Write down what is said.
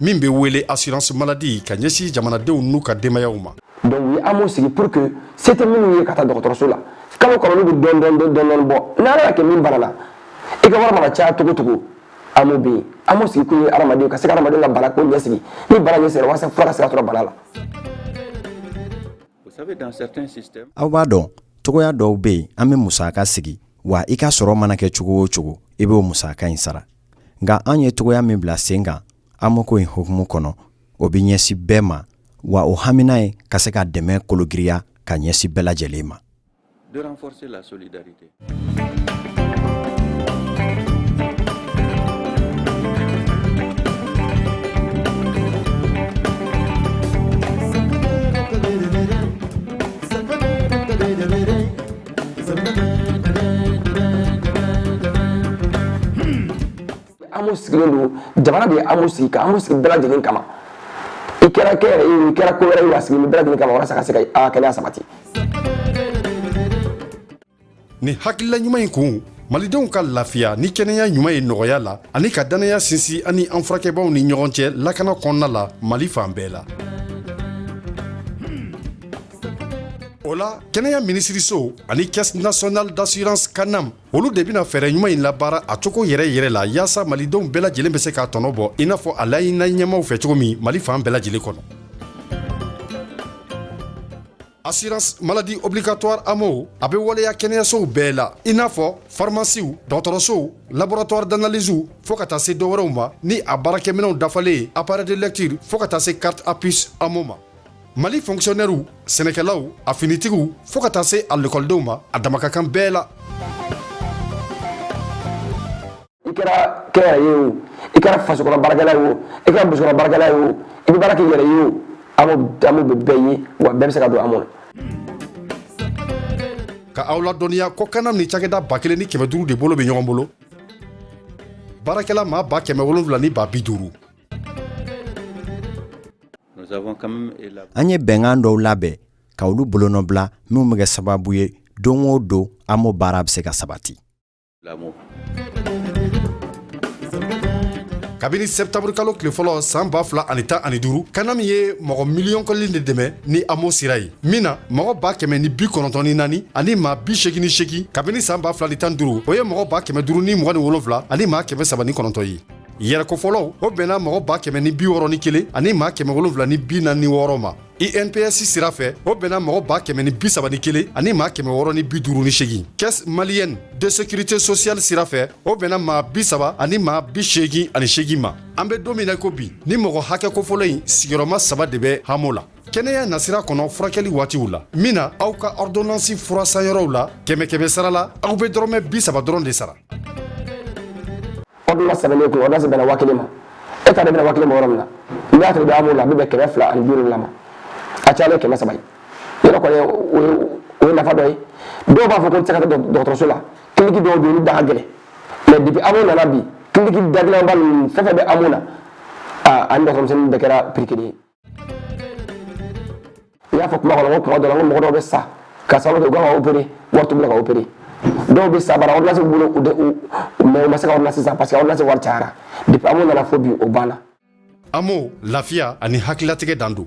min bɛ wele assurance maladie ka ɲɛsin jamanadenw n'u ka denbayaw ma. donc u ye AMO sigi pour que se tɛ minnu ye ka taa dɔgɔtɔrɔso la kalo kalo olu bɛ dɔɔni dɔɔni dɔɔni bɔ ni Ala y'a kɛ min banana i ka wari mana caya cogo cogo AMO bɛ yen AMO sigi kun ye hadamadenw ka se ka hadamadenw ka bana ko ɲɛsigi ni bana ɲɛsigila walasa fura ka se ka sɔrɔ bana la. aw b'a dɔn cogoya dɔw bɛ yen an bɛ musaka sigi wa i ka sɔrɔ mana kɛ cogo o cogo i b'o musaka in sara. nka an ye cogoya min bila sen kan AMO ko in hukumu kɔnɔ o bɛ ɲɛsin bɛɛ ma wa o hamina ye ka se ka dɛmɛ kologiriya ka ɲɛsin bɛɛ lajɛlen ma AMO sigilen don jamana de ye AMO sigi ka AMO sigi bɛɛ lajɛlen kama i kɛra kɛnyɛrɛye i kɛra ko wɛrɛ ye wa sigi bɛɛ lajɛlen kama walasa ka se ka kɛnɛya sabati nin hakilila ɲuman in kun malidenw ka lafiya ni kɛnɛya ɲuman ye nɔgɔya la ani ka dannaya sinsin an ni an furakɛbaw ni ɲɔgɔn cɛ lakana kɔnɔna la mali fan bɛɛ la o la kɛnɛya minisiriso ani caisse nationale d'assurance CANAM olu de bɛna fɛɛrɛ ɲuman in labaara a cogo yɛrɛ yɛrɛ la yaasa malidenw bɛɛ lajɛlen bɛ se k'a tɔnɔ bɔ i n'a fɔ a laɲinina ɲɛmaw fɛ cogo min mali fan bɛɛ lajɛlen kɔnɔ assurance maladie obligatoire AMO a bɛ waleya kɛnɛyasow bɛɛ la i n'a fɔ farimasiw dɔgɔtɔrɔsow laboratoire d'analysew fɔɔ ka taa se dɔwɛrɛw ma ni a baarakɛminɛw dafalen ye appareil de lecture fɔɔ ka taa se carte à puce AMO ma Mali fonctionnairew sɛnɛkɛlaw a finitigiw fo ka taa se a lekɔlidenw ma a dama ka kan bɛɛ la i kɛra kɛnyɛrɛye o i kɛra faso baarakɛla ye o i kɛra muso baarakɛla ye o i bɛ baara k'i yɛrɛ ye o AMO bɛ bɛɛ ye wa bɛɛ bɛ se ka don AMO na ka aw ladɔnniya ko CANAM ni cakɛda ba kelen ni kɛmɛ duuru de bolo bɛ ɲɔgɔn bolo baarakɛla maa ba kɛmɛ wolonwula ni ba bi duuru An ye bɛnkan dɔw labɛn ka olu bolonɔbila minnu bɛ kɛ sababu ye don o don AMO baara bɛ se ka sabati kabini sɛtanburu kalo tile fɔlɔ san ba fila ani tan ani duuru CANAM ye mɔgɔ miliyɔn kelen de dɛmɛ ni AMO sira ye min na mɔgɔ ba kɛmɛ ni bi kɔnɔntɔn ni naani ani maa bi segin ni segin kabini san ba fila ni tan ni duuru o ye mɔgɔ ba kɛmɛ duuru ni mugan ni wolowula ani maa kɛmɛ saba ni kɔnɔntɔn ye yɛrɛko fɔlɔ o bɛnna mɔgɔ ba kɛmɛ ni bi wɔɔrɔ ni kelen ani maa kɛmɛ wolonwula ni bi naani ni wɔɔrɔ ma inps sira fɛ o bɛnna mɔgɔ ba kɛmɛ ni bisaba ni kelen ani maa kɛmɛ wɔɔrɔ ni bi duuru ni seegin caisse malienne de sécurité sociale sira fɛ o bɛnna maa bisaba ani maa bi seegin ani seegin ma an bɛ don min na ko bi ni mɔgɔ hakɛ kofɔlen in sigiyɔrɔma saba de bɛ amo la kɛnɛya nasira kɔnɔ furakɛli waatiw la min na aw ka ɔrdonansi furasanyɔrɔw la kɛmɛ kɛmɛ sara la aw bɛ dɔrɔmɛ bisaba dɔrɔn de sara ordonnance sɛbɛnnen kɔ ordonnance bɛnna waa kelen ma e ta de bɛnna waa kelen ma yɔrɔ min na n'i y'a sɔrɔ i bɛ amo la a bɛ bɛn kɛmɛ fila ani bi wolonwula ma a cayalen kɛmɛ saba ye yɔrɔ kɔni o ye nafa dɔ ye dɔw b'a fɔ ko n tɛ se ka taa dɔgɔtɔrɔso la kiliniki dɔw bɛ yen olu da ka gɛlɛn mais depuis amo nana bi kiliniki dagɛlɛnba ninnu fɛn fɛn bɛ amo la ani dɔgɔtɔrɔmisɛnnin bɛɛ kɛra prix kelen ye i y'a fɔ kuma kɔnɔ ko kuma dɔ la ko mɔgɔ dɔw bɛ sa ka sababu kɛ u kan ka opérer wari t'u bolo ka opérer dɔw bɛ sa bari ordonnance b'u bolo u de mais u ma se ka ordonnance san parce que ordonnance wari cayara depuis amo nana fo bi o banna amo lafiya ani hakililatigɛ dan don